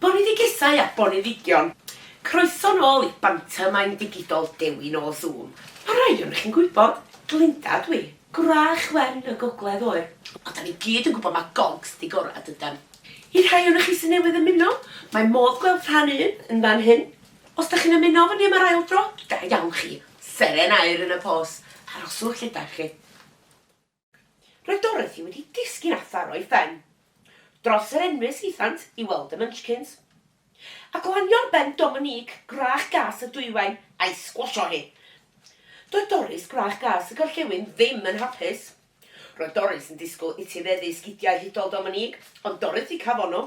Boneddigesau a boneddigion, croeso nôl i Bantomeim Digidol Dewi Nôl Zoom. Mae rhai ohonoch chi'n gwybod, Glinda ydw i, gwrach wen y gogledd oer, ond 'da ni gyd yn gwybod mae gogs di gorau dydan? I'r rhai ohonoch chi sy'n newydd ymuno, mae modd gweld rhan un yn fan hyn. Os 'da chi'n ymuno efo ni am yr ail dro, da iawn chi, seren aur yn y pôs, aroswch lle 'da chi. Roedd Dorothy wedi disgyn athar o'i phen dros yr enwys hithant i weld y Munchkins, a glanio ar ben Dominique gwrach gas y dwywain a'i sgwasio hi. Doedd Doris gwrach gas y gorllewin ddim yn hapus. Roedd Doris yn disgwyl etifeddu sgidiau hudol Dominique, ond Dorothy cafon nhw.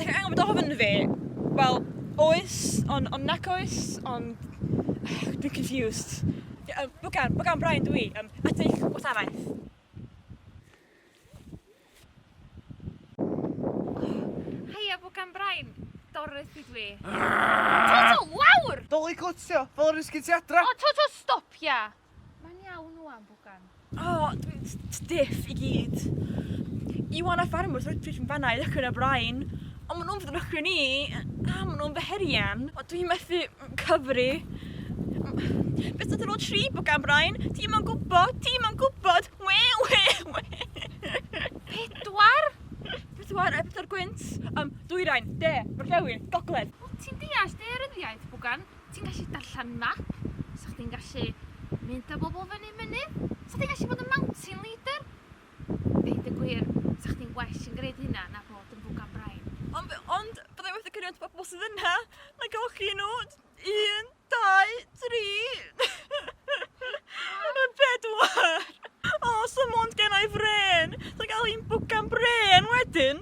Ti'n angen bod ofyn fi? Wel, oes, ond on nac oes, ond... Dwi'n confused. Um, Bwgan, Bwgan Brian dwi, um, at eich gwasanaeth. Heia, Bwgan Brian, Doris i dwi. To, to, lawr! Doli cwtio, fel yr ysgyn ti adra! O, to, to, stopia! Mae'n iawn wan, bwgan. O, oh, dwi'n stiff i gyd. Iwan a ffarmwr sy'n rydych yn fanna i ddechrau'n y brain. Ond maen nhw'n fod yn ddechrau ni, a maen nhw'n feherian. O, dwi'n methu cyfri. Beth ydyn nhw'n tri bwgan, Brian? Ti'n ma'n gwybod, ti'n ma'n gwybod. We, we, we. Pedwar? Pedwar, e, pedwar gwynt. Um, dwyrain, de, gorllewin, gogledd. O, ti'n deall dearyddiaeth, bwgan? Ti'n gallu darllen map, so chdi'n gallu mynd â bobl fyny mynydd, so chdi'n gallu bod yn mountain leader. Deud y gwir, so chdi'n well yn gwneud hynna na bod yn bwgan brain. Ond, ond byddai wedi cynnig at bobl sydd yna, na gael chi nhw, un, dau, tri, yn pedwar. O, so mond gen i fren, so gael un bwgan bren wedyn.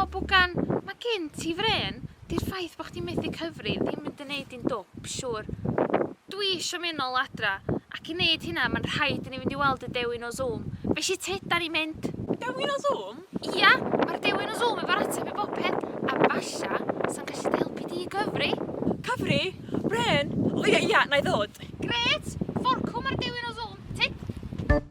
O bwgan, mae gen ti frên, di'r ffaith bod chdi'n methu cyfri ddim mynd yn neud di'n dwp, siwr. Dwi isio mynd nol adra, ac i neud hynna mae'n rhaid i ni fynd i weld y dewin o Zoom. Be sy tyd da ni'n mynd? Y dewin o Zoom? Ia, mae'r dewin o Zoom efo'r ateb i bopeth, a falla sa'n gallu dy helpu di i gyfri? Cyfri? Brên? O ia ia, na i ddod. Grêt! Forcwn mae'r dewin o Zoom, tyd!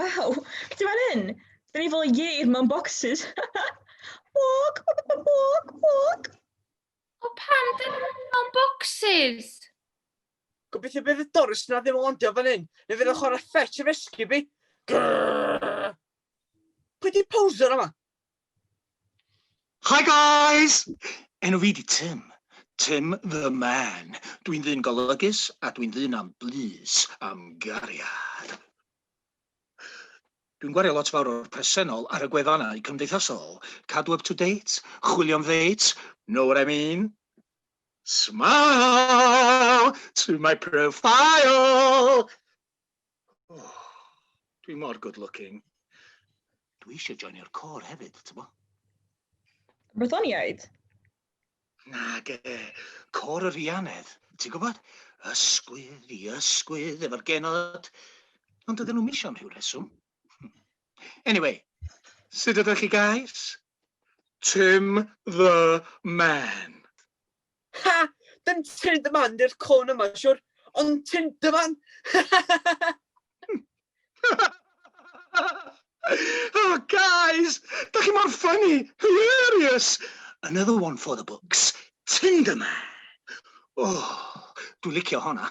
Waw, ti'n fan hyn? Dyn ni fel yeir mewn boxes. Bog, bog, bog. O pan dyn nhw'n mewn boxes? Gobeithio bydd y Doris na ddim yn landio fan hyn. Neu fydd yn chwarae fetch a rescue fi. Grrrr. Pwy di poser yma? Hi guys! Enw fi di Tim. Tim the man. Dwi'n ddyn golygus a dwi'n ddyn am blys, am gariad. Dwi'n gwario lot fawr o'r presennol ar y gwefannau cymdeithasol, cadw up to date, chwilio am ddeits, know what I mean? Smile to my profile! Oh, dwi mor good looking. Dwi eisiau joinio'r cor hefyd, ti'n bo? Brythoniaid? Nag e, cor yr ianedd, ti'n gwybod? Ysgwydd i ysgwydd efo'r genod. Ond ydyn nhw'n misio am rhyw reswm. Anyway, sut ydych chi guys? Tim the man. Ha! Dim Tynn dy Fand yw'r cân yma, siwr, ond Tynn dy Fan! oh, guys! Da chi mor funny! Hilarious! Another one for the books. Tynn dy Man! Oh, dwi'n licio honna.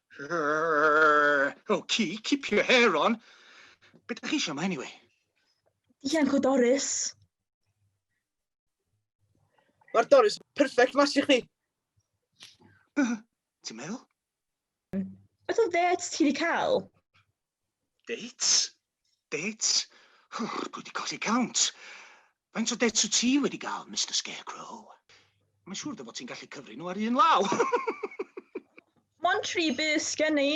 Oh, keep, keep your hair on. Beth ydych chi eisiau yma, anyway? Ianc o Doris. Mae'r Doris perfect match i chdi. Ti'n meddwl? Beth o ddeets ti wedi cael? Dates? Dates? Wff, dwi wedi colli count. Faint o dates wyt ti wedi gael, Mister Scarecrow? Mae'n siŵr dy fod ti'n gallu cyfri nhw ar un law. Mond tri bys gen i.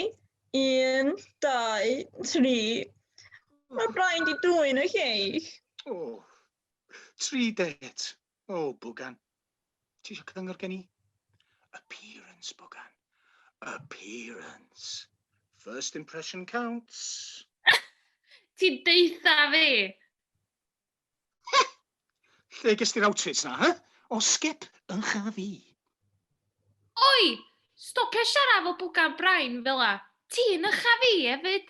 Un, dau, tri. Mae Brian di dwyn y lleill. O, tri dates. O, bwgan. Ti eisiau cyngor gen i? Appearance, bwgan. Appearance. First impression counts. Ti'n deitha fi! Lle ges ti'r outfits na, he? O skip yn cha fi. Oi! Stopia siarad fel bwgan brain fel a. Ti'n ycha fi hefyd.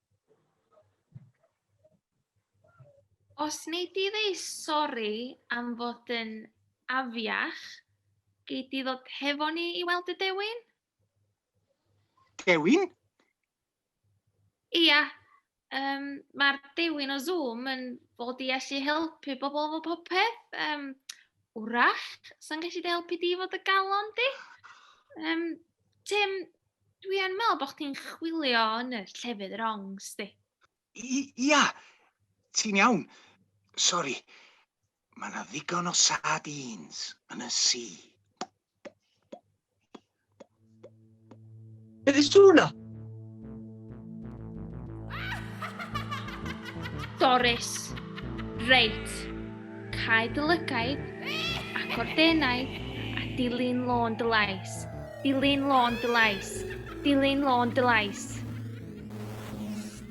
Os nei di ddeu sori am fod yn afiach, gei di ddod hefo ni i weld y dewin? Dewin? Ia, um, mae'r dewin o Zoom yn fod i allu helpu bobl efo popeth. Um, wrach, sa'n gallu dy helpu di fod y galon di? Um, Tim, Dwi yn meddwl bod chdi'n chwilio yn y llefydd wrong, sti. Ia, ti'n iawn. Sori. Mae yna ddigon o sardines yn y si. Beth yw hwnna? Doris. Reit. Cae dy lygaid, ac o'r denau, a dilyn lôn dy lais. Dilyn lôn dy lais. Dilyn lôn dy lais.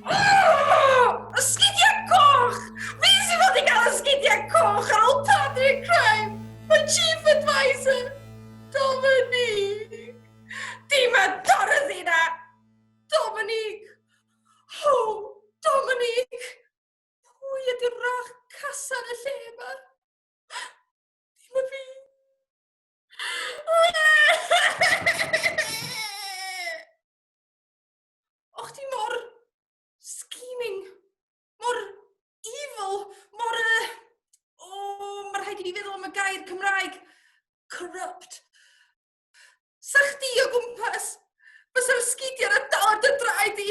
Oh! Ysgidiau coch! Fi sy'n fod i gael ysgidiau coch ar ôl Patrick Crime! Mae Chief Advisor! Dominique! Dim y Dorothy na! Dominique! Ho! Dominique! Pwy ydy'r rach casan y lle yma? Dim y fi! O'ch ti mor scheming, mor evil, mor... Uh, o, oh, mae rhaid i ni feddwl am y gair Cymraeg. Corrupt. Sa chdi o gwmpas, bysa'r sgidiau na dal ar dy draed i.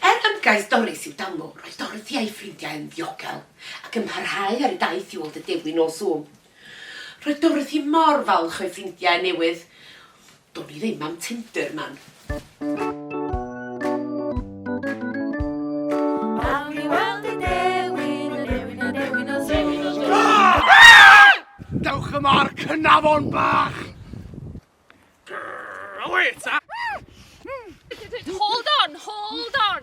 Er ymgais Doris i'w danglo, roedd Dorothy a'i ffrindiau yn ddiogel ac yn parhau ar y daith i ôl Tyddewi nos Sul. Roedd Dorothy mor falch o'i ffrindiau newydd. Do'n i ddim am Tinder man. Dewch yma ar Cnafon bach! Wait! Hold on, hold on!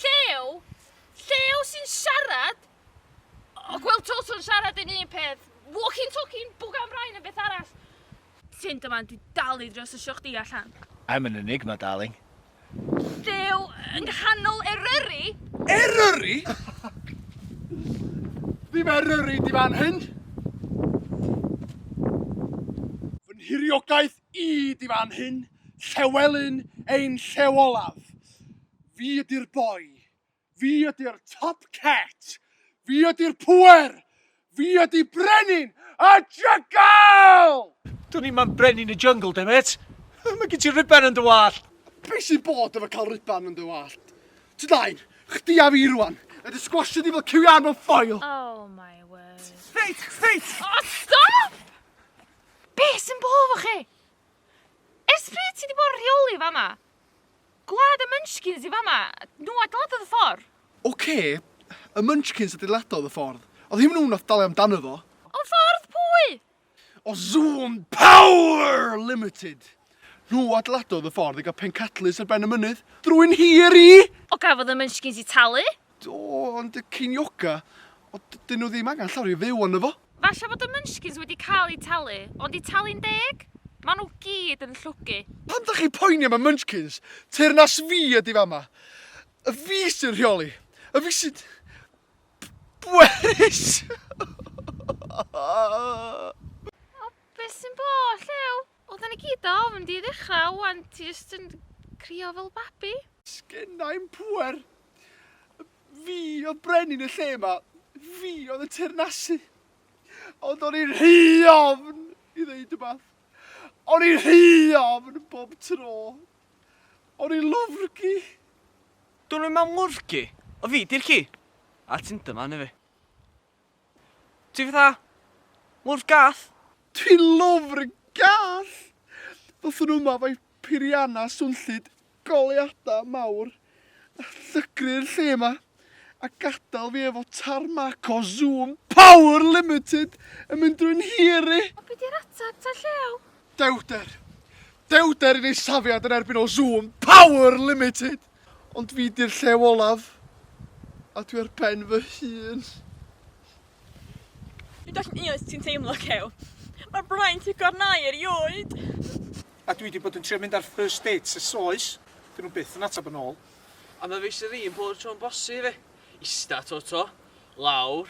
Llew? Llew sy'n siarad? O, Gwyl Tolson siarad yn un peth. Walking talking bwg am rhain yn beth arall. Ti'n dyma, dwi dal i drio sysio chdi allan. I'm an enigma, darling. Duw, yng nghanol Eryri? Eryri? Ddim Eryri di fan hyn! Fy nhiriogaeth i di fan hyn, Llewelyn ein llew olaf. Fi ydi'r boi, Fi ydy'r top cat! Fi ydy'r pŵer! Fi ydy brenin y jygl! Dwn i'm am brenin y jyngl, demêt! Mae gen ti ruban yn dy wallt! Be sy'n bod efo cael ruban yn dy wallt? Ti ddain, chdi a fi rwan, yn dy sgwasio di fel cyw iâr mewn ffoil! Oh my word. Reit, reit! O, stop! Be sy'n bod efo chi? Ers pryd ti di bod yn rheoli fama? Gwlad y Munchkins i fama! Nhw adeiladodd y ffordd! Ok, y Munchkins adeiladodd y ffordd. Oedd hi'm nhw nath dalu amdano fo. Ond ffordd pwy? O Zoom Power Limited! Nhw adeiladodd y ffordd i gael pencadlys ar ben y mynydd, drwy'n hir i! O gafodd y Munchkins i talu? Do, ond y ceinioga, o, 'dyn nhw ddim angen llawr i fyw arno fo! Falle fod y Munchkins wedi cael eu talu, ond eu talu'n deg? Maen nhw gyd yn llwgu. Pam dach chi'n poeni am y Munchkins? Teyrnas fi ydi fama! Y fi sy'n rheoli! Y fi sy'n bwerus! O, beth sy'n bod, Llew? Wel 'dan ni gyd do? Ma'n mynd i ddechra 'wan ti jyst yn crio fel babi. Sgennai'm pŵer. Fi oedd brenin y lle 'ma. Fi oedd yn teyrnasu. Ond o'n i'n rhy ofn i ddeud rhywbeth. O'n i'n rhy ofn bob tro. O'n i'n lwfrgi. Dwn i'm am lwfrgi. O fi di'r ci. A ti'n dyma arna fi. Ti fatha, lwrf gath. Dwi'n lwfr gath! Fyddwn yma efo'i phirianau swnllyd, goleuadau mawr, a llygru'r lle yma, a gadael fi efo tarmac o Zoom power limited yn mynd drwy'n hir i! Ond be di'r ateb ta llew? Dewder! Dewder i neud safiad yn erbyn o Zoom power limited! Ond fi 'di'r llew olaf, a dwi ar ben fy hun. Fi'n dallt yn iawn sut ti'n teimlo, Cew. Mae'r braint yn gornau erioed. A dwi 'di bod yn trio mynd ar first dates ers oes, 'dyn nhw byth yn ateb yn ôl. A ma' fe isie fi yn bob tro'n bosi fi. Ista, to-to, lawr,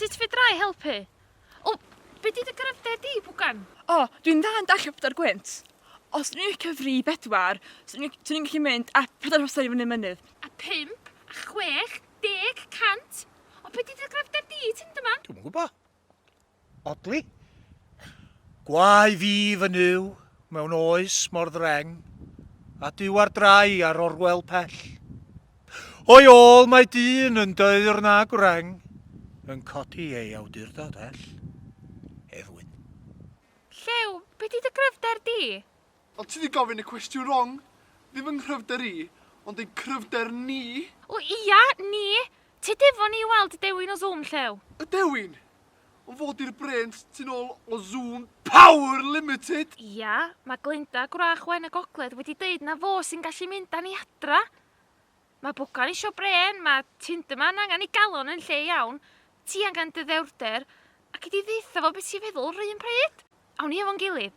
Sut fedra i helpu? O, be di dy gryfder di, Bwgan? O, dwi'n dda yn dallt Prydain Gwynt. Os dwi'n i'n cyfri i bedwar, swn i'n gallu mynd a pedair hosan i fyny mynydd. A pump, a chwech, deg, cant. O, be di dy gryfder di, Tinderman? Dwi'm yn gwybod. Odli? Gwae fi fy nyw mewn oes mor ddreng, a Duw ar drai ar orwel pell. O'i ôl mae dyn yn deur na gwreng, yn codi ei awdurdod ell. Hedd Wyn. Llew, be di dy gryfder di? Ond ti 'di gofyn y cwestiwn rong. Ddim yng nghryfder i, ond ein cryfder ni! O ia, ni! Tyd efo ni i weld y dewin o Zoom llew! Y dewin? Ond fo 'di'r brêns tu nôl o Zoom Power Limited! Ia, mae Glenda Gwrach Wen y Gogledd wedi deud na fo sy'n gallu mynd â ni adra! Mae Bwcan isio brên, mae Tinderman angen ei galon yn lle iawn, ti angen dy ddewrder, ac i di ddeutha fo be' ti'n feddwl 'run pryd! Awn ni efo'n gilydd!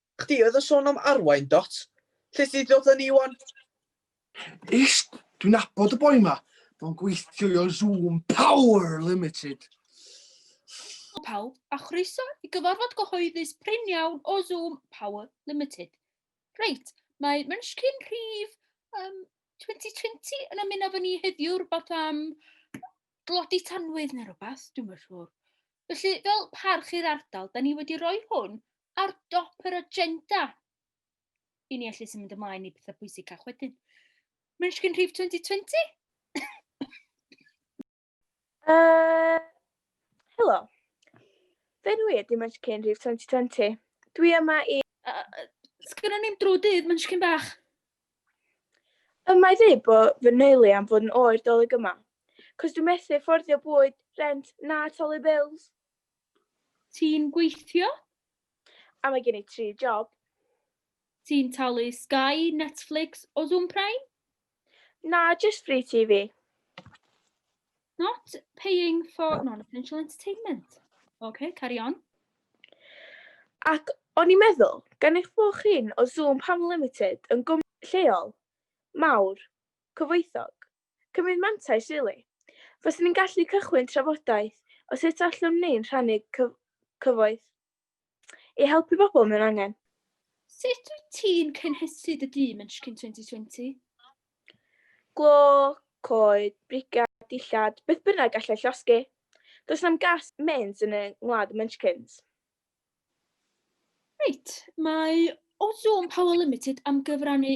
Chdi oedd yn sôn am arwain, dot? Lle ti 'di dod â ni wan? Ish, dwi'n nabod y boi ma. Fo'n gweithio i Zoom Power Limited. Helo pawb, a chroeso i gyfarfod gyhoeddus prin iawn o Zoom Power Limited. Reit, mae Munchkin rhif um, 2020 yn ymuno efo ni heddiw rhywbeth am glodi tanwydd neu rhywbeth, dwi'n meddwl. Felly, fel parch i'r ardal, da ni wedi rhoi hwn ar dop yr agenda i ni allu symud ymlaen i pethau pwysicach wedyn. Munchkin Rhif 2020? uh, helo. Fe dwi ydy Munchkin Rhif 2020. Dwi yma i... Uh, Sgynnon ni'n drwy dydd Munchkin bach. Y mae ddeud bod fy neulu am fod yn oer dolyg yma. Cos dwi'n methu fforddio bwyd, rent, na talu bills. Ti'n gweithio? A mae gen i tri job. Ti'n talu Sky, Netflix o Zoom Prime? Na, just free TV. Not paying for non-essential entertainment. OK, carry on. Ac o'n i'n meddwl, gan eich bod chi'n o Zoom Panel Limited yn gwmni lleol, mawr, cyfoethog, Cymryd mantais rili. Faswn i'n gallu cychwyn trafodaeth o sut allwn ni rhannu cyfoeth i helpu pobl mewn angen. Sut wyt ti'n cynhesu dy dîm yn Shkin Twenty Twenty? Glo, coed, brigau, dillad, beth bynnag gallai llosgi. Does na'm gas mains yn y ngwlad y Munchkins. Reit, mae Ozone Power Limited am gyfrannu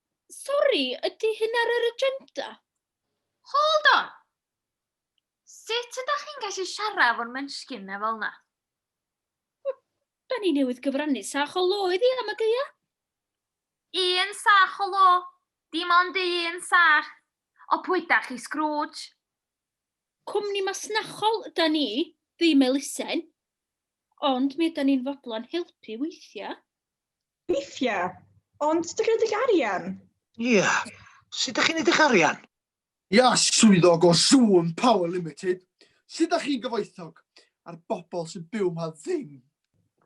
Sori, ydy hyn ar yr agenda? Hold on! Sut ydych chi'n gallu siarad efo'r menschyn na fel na? Da ni newydd gyfrannu sach o lo iddi am y geia. Un sach o lo, dim ond un sach. O pwy da chi, Scrooge? Cwmni masnachol da ni, ddim elusen, ond mi ydan ni'n fodlon helpu weithiau. Weithia. Ond dych chi'n edrych arian? Ia. Sut dych chi'n edrych arian? Ia, swyddog o Zoom Power Limited. Sut dych chi'n gyfoethog? A'r bobl sy'n byw ma ddim?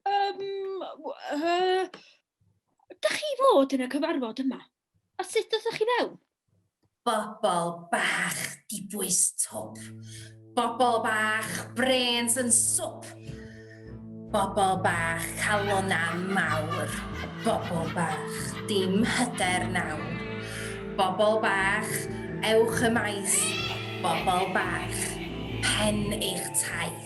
Yym, yy, dych chi fod yn y cyfarfod yma? A sut dothoch chi fewn? Bobl bach dibwys twp. Bobl bach brêns yn swp. Bobl bach calonnau mawr. Bobl bach dim hyder nawr. Bobl bach ewch y maes. Bobl bach pen eich taith.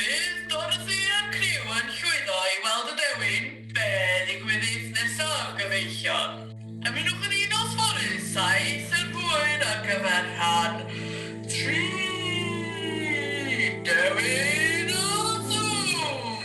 Bydd Dorothy a'r criw yn llwyddo i weld y dewin, be ddigwyddith nesaf gyfeillion? Ymunwch â ni nos fory, saith yn hwyr ar gyfer rhan tri, Dewin a Thwm!